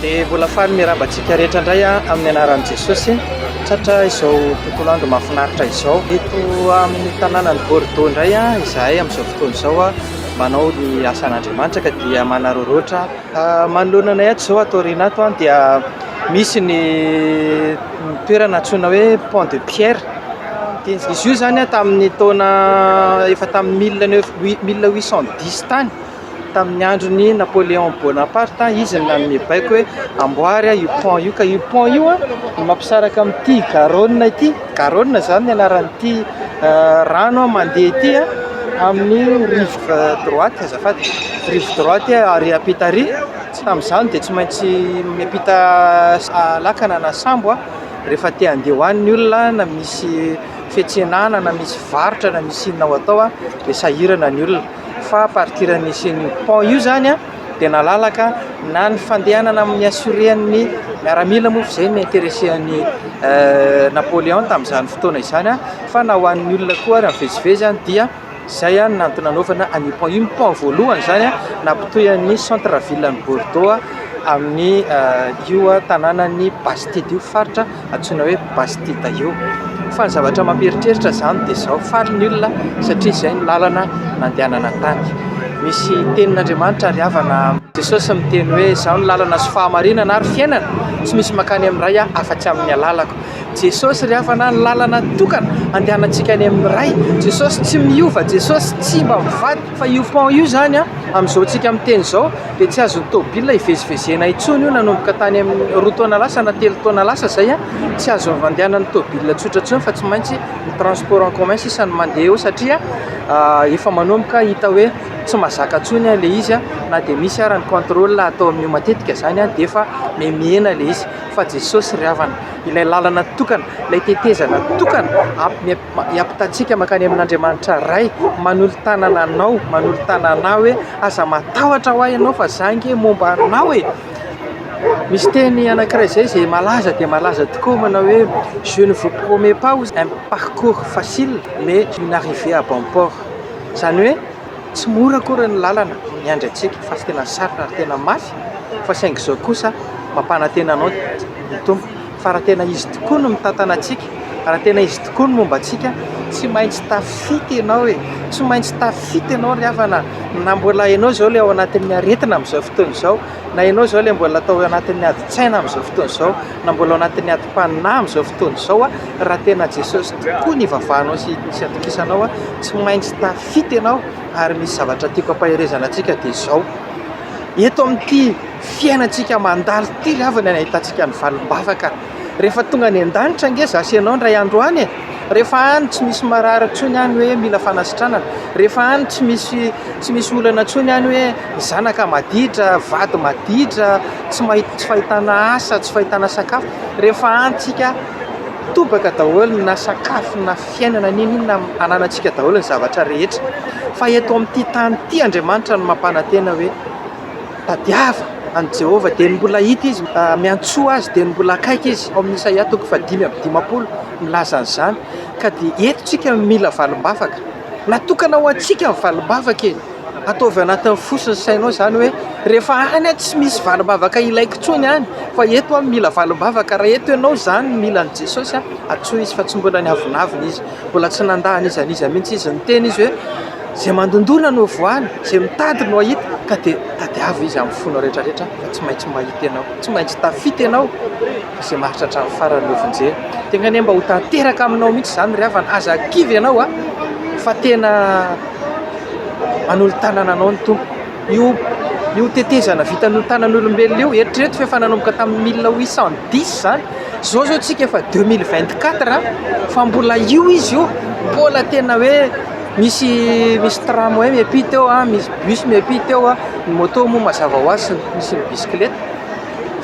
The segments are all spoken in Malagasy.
Dia mbola faly miraba antsika rehetra indray amin'ny anaran'i Jesosy. Tratra izao tontolo andro mahafinaritra izao. Eto amin'ny tanànan'i Bordeaux indray izahay amin'izao fotoana izao manao ny asan'Andriamanitra ka dia manararaotra Manoloana anay ato izao ato aoriana ato dia misy ny toerana antsoina hoe pont de pierre, izy io izany tamin'ny taona efa tamin'ny mille neuf mille huit cent dix tany tamin'ny andron'i Napoléon Bonaparte izy no nanome baiko hoe amboary io pont io ka io pont io no mampisaraka amin'ity Garonne ity, Garonne izany no anaran'ity rano mandeha ity amin'ny rivotra. rive droite azafady, rive droite ary ampita ary tsy tamin'izany dia tsy maintsy miampita lakana na sambo aho rehefa te handeha ho any ny olona na misy fiantsenana na misy varotra na misy inona ho atao aho dia sahirana ny olona fa à partir an'ny nisian'io pont io izany an dia nalalaka na ny fandehanana amin'ny assurer an'ny miaramila moa fa izay no interesser an'i Napoléon tamin'izany fotoana izany an fa na ho an'ny olona koa ary mivezivezy any dia Izay no antony nanaovana an'i Pont. Iny Pont voalohany izany no nampitohy an'ny centre ville an'i Bordeaux amin'ny io tanànan'i Bastide io, faritra antsoina hoe Bastide io. Fa ny zavatra mampieritreritra izany dia izao, faly ny olona satria izay no lalana nandehanana tany. Misy tenin'Andriamanitra ary havana, Jesosy miteny hoe, izaho no lalana sy fahamarinana ary fiainana, tsy misy mankany amin'ny Ray afa-tsy amin'ny alalako. Jesosy ry havana ny lalana tokana andehanantsika any amin'ny Ray. Jesosy tsy miova, Jesosy tsy mba mivadika. Fa io pont io izany an, amin'izao tsika miteny izao dia tsy azon'ny tôbila ivezivezena intsony io nanomboka tany amin'ny roa taona lasa na telo taona lasa izay an, tsy azo andehanan'ny tôbila tsotra intsony fa tsy maintsy ny transport en commun sisa no mandeha eo satria efa manomboka hita hoe tsy mazaka intsony ilay izy an, na dia misy ary ny contrôle atao amin'io matetika izany an dia efa mihena ilay izy. fa Jesosy ry havana, ilay lalana tokana, ilay tetezana tokana hiampitantsika mankany amin'Andriamanitra Ray, manolo-tanana anao, manolo-tanana anah hoe aza matahotra ho'a ianao fa za ange momba anao e! Misy teny anankiray izay izay malaza dia malaza tokoa manao hoe je ne vous promets pas un parcours facile mais une arrivée à bon port, izany hoe Tsy mora akory ny lalana miandry antsika fa tena sarotra ary tena mafy fa saingy izao kosa mampanantena anao ny Tompo fa raha tena Izy tokoa no mitantana antsika, raha tena Izy tokoa no momba antsika, tsy maintsy tafita ianao e! Tsy maintsy tafita ianao ry havana na mbola ianao izao ilay ao anatin'ny aretina amin'izao fotoana izao, na ianao izao ilay mbola tao anatin'ny adin-tsaina amin'izao fotoana izao, na mbola ao anatin'ny adim-panahy amin'izao fotoana izao, raha tena Jesosy tokoa no ivavahanao sy atokisanao, tsy maintsy tafita. fito ianao ary misy zavatra tiako ampaherezana antsika dia izao, eto amin'ity fiainantsika mandalo ity ry havana no ahitantsika ny valim-bavaka, rehefa tonga any an-danitra ange izaho sy ianao indray andro any e, rehefa any tsy misy marary intsony any hoe mila fanasitranana, rehefa any tsy misy tsy misy olana intsony any hoe zanaka maditra, vady maditra, tsy mahita tsy fahitana asa, tsy fahitana sakafo, rehefa any tsika tobaka daholo na sakafo na. fiainana n'inon'inona amin'ny hananantsika daholo ny zavatra rehetra fa eto amin'ity tany ity Andriamanitra no mampanantena hoe tadiava an'i Jehovah dia ny mbola hita izy miantsoa azy dia ny mbola akaiky izy ao amin'ny Isaia toko fahadimy amby dimampolo milaza an'izany ka dia eto tsika mila valimbavaka natokana ho antsika ny valimbavaka e Ataovy anatin'ny fo sy ny sainao izany hoe rehefa any tsy misy valim-bavaka ilaiko intsony any fa eto aho no mila valim-bavaka. Raha eto ianao izany no mila an'i Jesosy, antsoy Izy fa tsy mbola niavonavona Izy, mbola tsy nandà an'iza an'iza mihitsy Izy. Niteny Izy hoe, Izay mandondona no voany, izay mitady no hahita, ka dia tadiavo Izy amin'ny fonao rehetrarehetra fa tsy maintsy mahita ianao, tsy maintsy tafita ianao fa izay maharitra hatramin'ny farany no vonjeny. Dia angaha anie mba ho tanteraka aminao mihitsy izany ry havana, aza kivy ianao fa tena Manolo tanana anao ny Tompo. Io io tetezana vita noho tanan'olombelona io, eritrereto fa efa nanomboka tamin'ny mille huit cent dix izany, izao izao isika efa deux mille vingt quatre fa mbola io izy io, mbola tena hoe misy misy tramway miampita eo, misy bus miampita eo, ny moto moa mazava ho azy sy ny bisikileta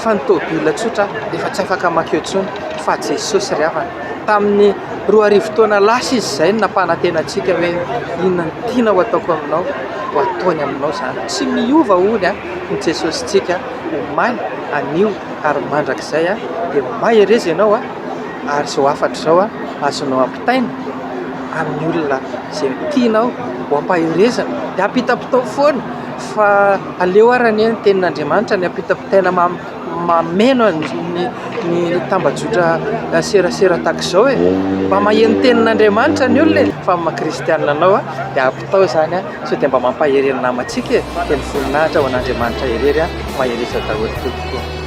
fa ny tôbily tsotra aza efa tsy afaka mankeo intsony fa Jesosy ry havana. Tamin'ny roa arivo taona lasa izy izay no nampanantena antsika hoe inona no tiana ho ataoko aminao ho ataony aminao izany. Tsy miova hono ny Jesosintsika omaly, anio ary mandrakizay. Dia mahereza ianao ary izao hafatra izao azonao ampitaina amin'ny olona izay tianao ho ampaherezana. Dia ampita-pitao foana fa aleo ary anie ny tenin'Andriamanitra no ampita-pitaina amiko. Mameno ny tambajotra serasera tahaka izao e! Mba maheno ny tenin'Andriamanitra ny olona e! Fa ny maha kristianina anao dia ampitao izany sao dia mba mampahery ny namantsika e! Dia ny voninahitra ho an'Andriamanitra irery mahereza daholo tompoko ô!